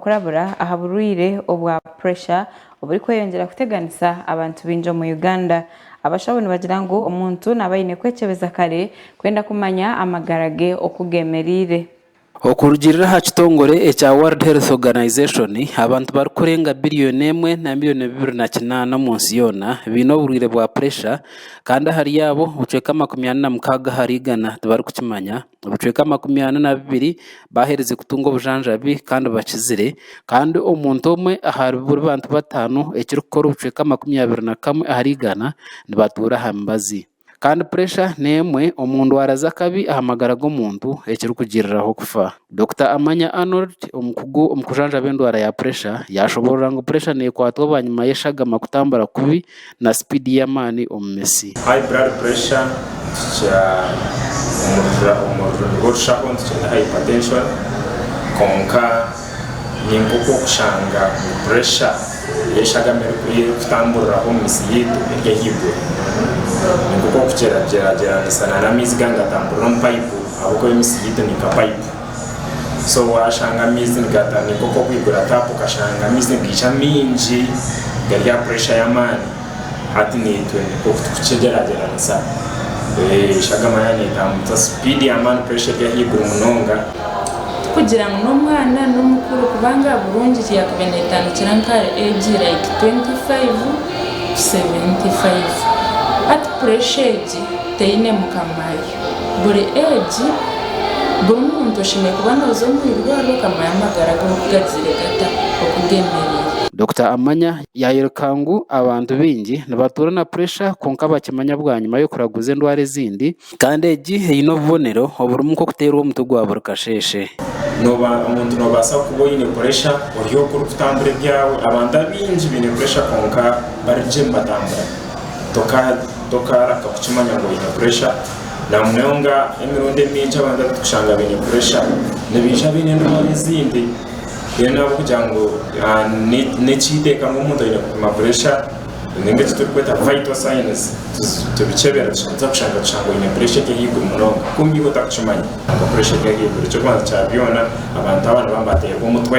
Kurabira aha burwaire obwa puresha oburikweyongyera kuteganisa abantu baingi omu Uganda, abashaho nibagira ngu omuntu naaba aine kwekyebeza kare kwenda kumanya amagara ge oku geemereire. Okurugiirira aha kitongore ekya World Health Organization, abantu barikurenga biriyoni emwe na miriyoni bibiri na kinaana omu nsi yoona baine oburwaire bwa puresha, kandi ahari abo, obucweka makumi ana na mukaaga ahari igana tibarikukimanya. Ebicweka makumi ana na bibiri baaherize kutunga obujanjabi kandi bakizire. Kandi omuntu omwe ahari buri bantu bataano, ekirikukora obucweka makumi abiri na kamwe ahari igana, nibatuura aha mibazi. Kandi puresha n'emwe omu ndwara z'akabi aha magara g'omuntu ekirikugiriraho kufa. Dokita Amanya Arnold, omukugu omu kujanjaba endwara ya puresha, yaashoboorora ngu puresha neekwatwa bwanyima y'eshagama kutambura kubi na sipiidi y'amaani omu mitsi. High blood pressure nikikira omurira omu rurimi rw'orushaho nitukyeeta hypertension kwonka ni nk'oku orikushanga puresha y'eshagama erikuriya erikutamburiraho omu mitsi yaitu eri ahaiguru. Ni nk'oku orikugyeragyeranisa n'amaizi gaaga nigatamburira omu payipu ahabw'okuba emitsi yaitu ni nka payipu. so washanga amaizi nigatandika okwo kwigura tapu okashanga amaizi nigaija maingi gari aha puresha y'amaani hati naitwe nk'oku turikukigyeragyeranisa eshagama yaaba neetambura sipiidi y'amaani puresha eri ahaiguru munonga tikugira ngu n'omwana n'omukuru kubanga burungi yaakubaire neetandikira nka ahari eegi like twenti faivu tu seventi faivu hati puresha egi teine mukama waayo. buri egi buri muntu oshemereire kuba noza omu irwaro okamanya amagara go oku gagyire gata oku gemerire. Dokita Amanya yayoreka ngu abantu baingi nibatuura na puresha kwonka bakimanya bwanyima y'okuraguza endwara ezindi, kandi egi eine obubonero oburimu nk'okuteerwa omutwe gwa buri kasheeshe. Noba omuntu nobaasa kuba oine puresha ori oku orikutambura ebyawe, abantu abaingi baine puresha kwonka bari gye nibatambura. tokaraka kukimanya ngu oine puresha, namunonga emirundi emingi abantu abarikushanga baine puresha nibaija baine endwara ezindi mbwenu ahabw'okugira ngu n'ekihikaire omuntu aine kupima puresha ninga eki turikweta vital signs tubikyebera tubanza kushanga oine puresha eri ahaiguru munonga kwonka iwe otarikukimanya ngu puresha eri ahaiguru, eky'okubanza kya byona abantu aba nibabateerwa omutwe.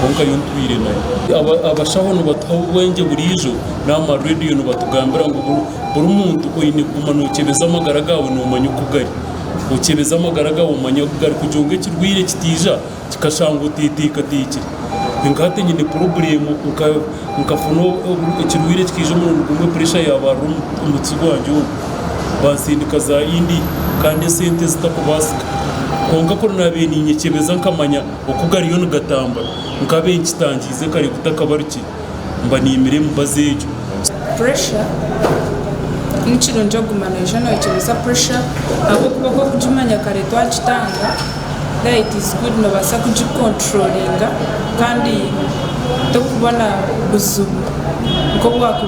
kwonka nyowe ntwire nayo. Abashaho nibatuha obubwengye buriijo n'aha ma radiyo nibatugambira ngu buri muntu oine kuguma nokyebeza amagara gaawe nomanya oku gari. Okyebeza amagara gaawe omanya oku gari kugira ngu ekirwaire kitaija kikashanga oteteekateekire. Nka hati nyine porobureemu nkafuna ekirwaire kikaija omurundi gumwe puresha yaabarura omu mutsi gwangye omu, bansindika za India kandi esente zitakubaasika. Kwonka ku naabaire ninyekyebeza nkamanya. Oku gariyo nigatambura, nkabe nkitangiize kare ku takabarukire, mba niimira emibazi egyo. Pressure, Ni kirungi okuguma noija noyekyebeza pressure ahabw'okuba oku orikugimanya kare twagitanga, then it is good noobaasa kugikonturolinga kandi torikubona buzibu nk'obu waaba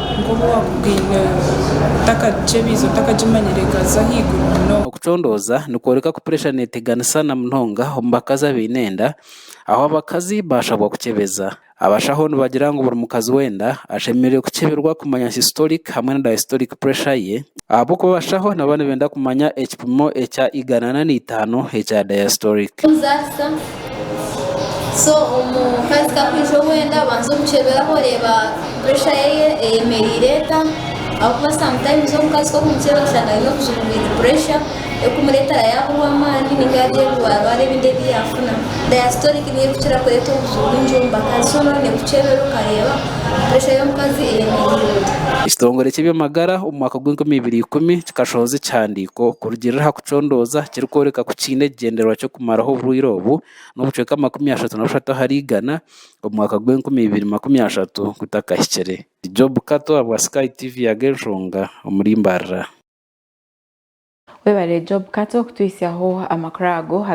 otakagikyebiize otakagimanyire ekaaza ahaiguru munonga. Kucondooza nikworeka ku puresha neeteganisa na munonga omu bakazi abaine enda, ahu abakazi baashabwa kukyebeza. Abashaho nibagira ngu buri mukazi w'enda ashemereire kukyeberwa kumanya systolic hamwe na diastolic puresha ye, ahabw'okuba abashaho nabo nibenda kumanya ekipimo ekya igana na itaano ekya diastolic. Kuzaasa so omukazi ku akwija owenda banza omukyeberaho oreeba puresha ye eyemereire eta ahabw'okuba sometimes omukazi ku okumukyebera oshanga aine obujuma bwine puresha ekumureetera yaaburwa amaani nainga yaagira ebiwarwara ebindi ebi yaafuna. Diastolic niyo erikukira kureeta obuju bwingi omu bakazi so nooba oine kukyebera okareeba puresha y'omukazi eyemereire eta. Ekitongore ky'eby'amagara omu mwaka gwa enkumi ibiri ikumi kikashohoza ekihandiiko kurugiirira aha. Nikyo ndooza kirikworeka ku kiine ekigyendererwa ky'okumaraho oburwaire obu n'obucweka makumi ashatu na bushatu ahari igana omu mwaka gw'enkumi ibiri makumi ashatu gutakahikire. Job Kato aha bwa Sky TV Yaga Enshonga omuri Mbarara. Webare Job Kato kutuhitsyaho amakuru ago.